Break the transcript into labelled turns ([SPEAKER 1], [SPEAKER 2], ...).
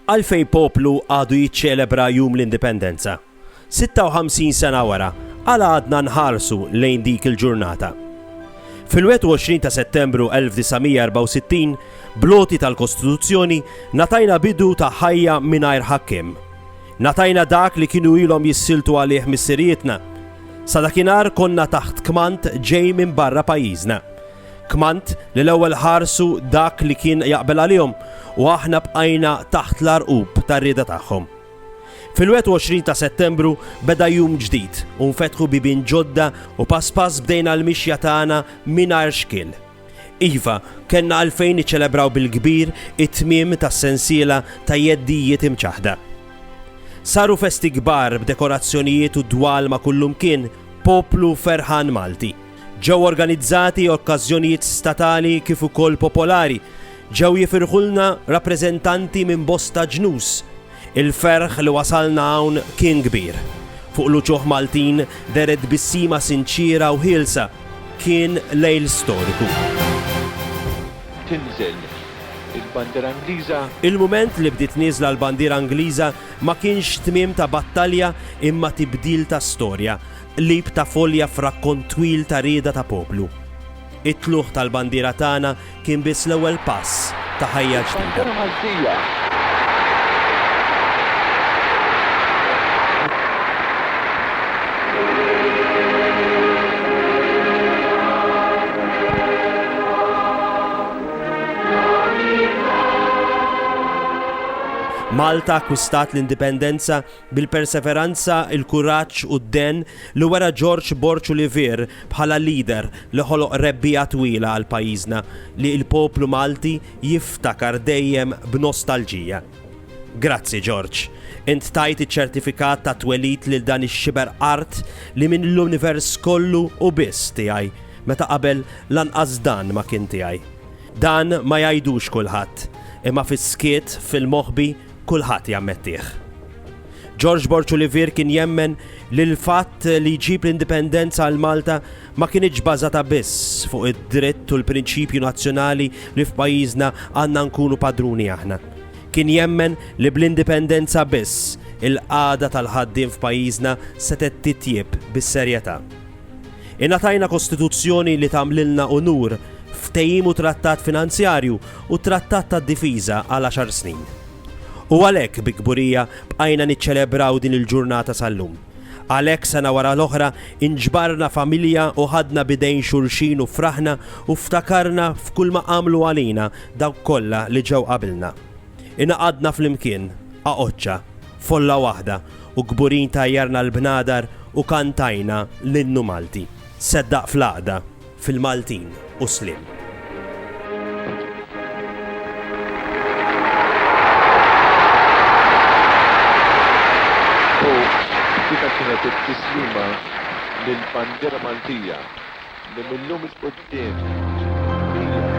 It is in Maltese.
[SPEAKER 1] Għalfejn poplu għadu jiċċelebra Jum l-Indipendenza? 56 sena wara, għala għadna nħarsu lejn dik il-ġurnata? Fil-21 ta' Settembru 1964, bl-għoti tal-Kostituzzjoni, ngħatajna bidu ta' ħajja mingħajr ħakkiem. Ngħatajna dak li kienu ilhom jissiltu għalih missirijietna. Sa dakinhar konna taħt kmand ġej minn barra pajjiżna. Kmand li l-ewwel ħarsu dak li kien jaqbel għalihom u aħna bqajna taħt l-għarqub tar-rieda tagħhom. Fil-21 ta' Settembru beda jum ġdid u nfetħu bibien ġodda u pass pass bdejna l-mixja tagħna mingħajr xkiel. Iva, kellna għalfejn niċċelebraw bil-kbir it-tmiem tas-sensiela ta' jeddijiet imċaħħda. Saru festi kbar b'dekorazzjonijiet u dwalma kullimkien, poplu ferħan Malti. Ġew organizzati okkażjonijiet statali kif ukoll popolari. Ġew jifirħulna rappreżentanti minn bosta ġnus. Il-ferħ li wasalna hawn kien kbir. Fuq l-uċuħ Maltin dehret bissima sinċiera u ħielsa. Kien lejl storiku.
[SPEAKER 2] Tinżel il-bandiera Ingliża. Il-mument li bdiet
[SPEAKER 1] nieżla l-bandiera Ingliża ma kienx tmiem ta' battalja imma tibdil ta' storja. Qlib ta' folja f'rakkont twil ta' rieda ta' poplu. It-tlugħ tal-bandiera tagħna kien biss l-ewwel pass ta' ħajja ġdida. Malta akkwistat l-Indipendenza bil-perseveranza, il-kuraġġ u d-dehen li wera Ġorġ Borg Olivier bħala leader li ħoloq rebbiegħa twila għal pajjiżna li l-poplu Malti jiftakar dejjem b'nostalġija. Grazzi Ġorġ. Int tajt iċ-ċertifikat tat-twelid lil dan ix-xiber art li minn l-univers kollu hu biss tiegħi meta qabel lanqas dan ma kien tiegħi. Dan ma jgħidux kulħadd, imma fis-skiet, fil-moħbi, Kulħadd jammettih. George Borg Olivier kien jemmen li l-fatt li jġib l-indipendenza għal Malta ma kienitx bażata biss fuq id-dritt u l-prinċipju nazzjonali li f'pajjiżna għandna nkunu padruni aħna. Kien jemmen li bl-indipendenza biss il-qagħda tal-ħaddiem f'pajjiżna setgħet titjieb bis-serjetà. Ingħatajna Kostituzzjoni li tagħmlilna unur, ftehim u trattat finanzjarju u trattat tad-difiża għal għaxar snin. U għalhekk bi kburija bqajna niċċelebraw din il-ġurnata sal-lum. Għalhekk sena wara l-oħra inġbarna familja u ħadna b'idejn xulxin u fraħna u ftakarna f'kulma għamlu għalina dawk kollha li ġew qabilna. Ingħaqadna flimkien, għaqodxa. Folla waħda u kburin tajjarna l-bnadar u kantajna l-innu Malti. Seddaq fl-għaqda, fil-Maltin u s-sliem.
[SPEAKER 2] U dika kienet it-tislima lill-bandiera Maltija li mil-lum 'il quddiem hija.